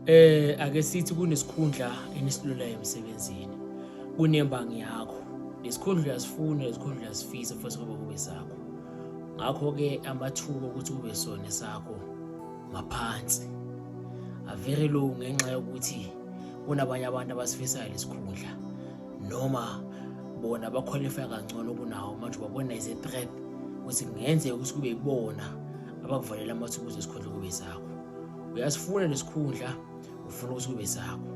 Eh ake sithi kunesikhundla enisilulayo emsebenzini. Kunembangi yakho. Lesikhundla uyasifuna, lesikhundla uyasifisa futhi kube kube sakho. Ngakho ke amathuba ukuthi kube sona sakho maphansi. A very low ngenxa yokuthi kunabanye abantu abasifisayo lesikhundla noma bona baqualify kangcono kunawo manje babona is a threat ukuthi kungenzeka ukuthi kube ibona abakuvalela amathuba ukuthi isikhundla kube sakho uyasifuna lesikhundla ufuna ukuthi kube sakho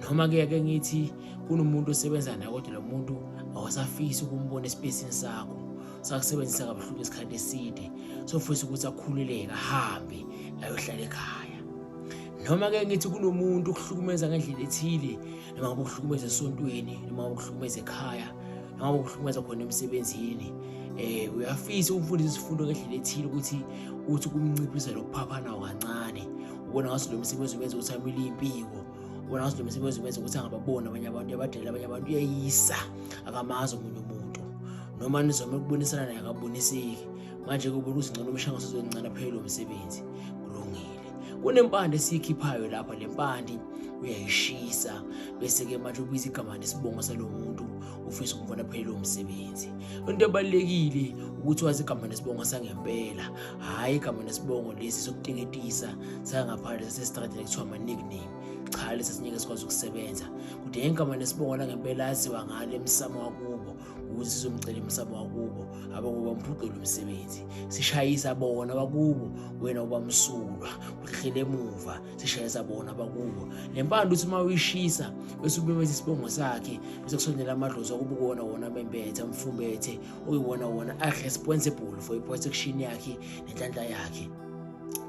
noma ke ake ngithi kunomuntu osebenza naye kodwa lo muntu awasafisi ukumbona esipesini sakho sakusebenzisa kabuhlungu isikhathi eside sofisa ukuthi akhululeke ahambe ayohlala ekhaya noma ke ngithi kunomuntu ukuhlukumeza ngendlela ethile noma ukuhlukumeza esontweni noma ukuhlukumeza ekhaya noma ukuhlukumeza khona emsebenzini um uyafisa ukufunda izifundo ngendlela ethile ukuthi uthi kumnciphisa lokuphaphana kancane ubona ngaso lo msebenzi umenza ukuthi amile impiko ubona ngaso lo msebenzi umenza ukuthi angababoni abanye abantu abadala abanye abantu uyayisa akamazi omunye umuntu noma nizome ukubonisana naye akaboniseki manje kubona ukuthi ngcono umshangaso uzoncane aphele lo msebenzi kulungile kunempande esiyikhiphayo lapha le mpande uyayishisa bese-ke manje ubiza igama nesibongo salo muntu ufisa ukumfuna aphelele umsebenzi into ebalulekile ukuthi wazi igama nesibongo sangempela hhayi igama nesibongo lesi sokuteketisa sangaphandle sasesitradini kuthiwa ama-nickname cha lesi sinyeke sikwazi ukusebenza kudinga igama nesibongo langempela aziwa ngalo emsamo wakubo ukuthi sizomcela umsamo wakubo abakuba mphucula umsebenzi sishayisa bona bakubo wena uba msulwa uhlele emuva sishayisa bona bakubo le mpanda uthi uma uyishisa bese ubemeza isibongo sakhe bese kusondela amadlozi okuba kuwona wona bembethe mfumbethe okuyiwona wona a-responsible for i-protection yakhe nenhlanhla yakhe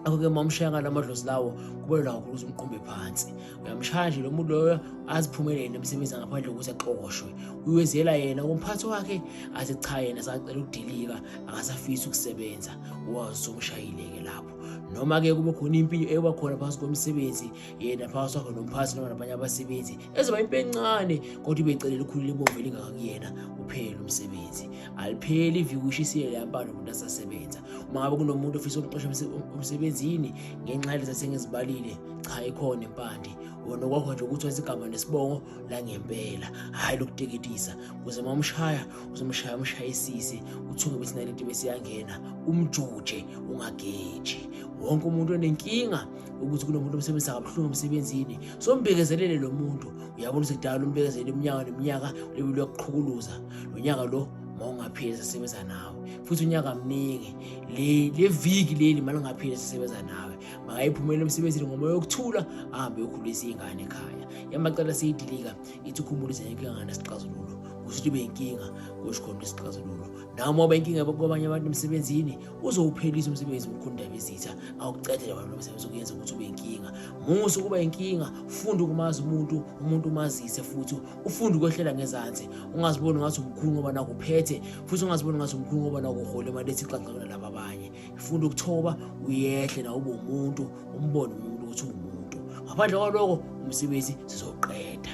akho-ke uma umshaya ngala madlozi lawo kubalula kakhulu ukuthi umqumbe phansi uyamshaya nje lo muntu loyo aziphumelele nemisebenzi ngaphandle kokuthi axoshwe uyozela yena kumphathi wakhe athi cha yena sacela ukudilika akasafisi ukusebenza wazomshayile-ke lapho noma-ke kube khona impilo eba khona phakathi komsebenzi yena phakathi wakhe nomphathi noma nabanye abasebenzi ezoba impi encane kodwa ibecele likhulu libomvu elingakakuyena uphele umsebenzi alipheli iviki ushisiye leyampano umuntu asasebenza uma ngabe kunomuntu ofisa ukuxosha emsebenzini ngenxa yalezi asengizibalile cha ikhona impande wona okwakho nje ukuthi wezigama nesibongo la ngempela hhayi lokuteketisa kuze uma umshaya uzomshaya umshayisise uthuke ukuthi nalento besiyangena umjuje ungageji wonke umuntu onenkinga ukuthi kunomuntu omsebenzisa kabuhlungu emsebenzini so mbekezelele lo muntu uyabona ukuthi kudala umbekezele iminyaka neminyaka lebe lokuqhukuluza lo nyaka lo mawungaphili sisebenza nawe futhi unyaka mningi le viki leli malungaphili sisebenza nawe makayiphumele emsebenzini ngomoya yokuthula ahambe yokhulisa ingane ekhaya yamacala seyidilika ithi ukhumbulize yonke ingane sixazululo kusho ukuthi beyinkinga kusho khona isixazululo nawe uma uba inkinga kwabanye abantu emsebenzini uzowuphelisa umsebenzi mkhundaba izitha awucedele abantu lomsebenzi ukuyenza ukuthi ube inkinga musa ukuba inkinga ufunde ukumazi umuntu umuntu umazise futhi ufunde ukwehlela ngezansi ungaziboni ngathi umkhulu ngoba nakuphethe futhi ungaziboni ngathi umkhulu ngoba nakuhole imali ethi xaxakela laba abanye funda ukuthoba uyehle na ube umuntu umbone umuntu ukuthi ungumuntu ngaphandle kwaloko umsebenzi sizoqeda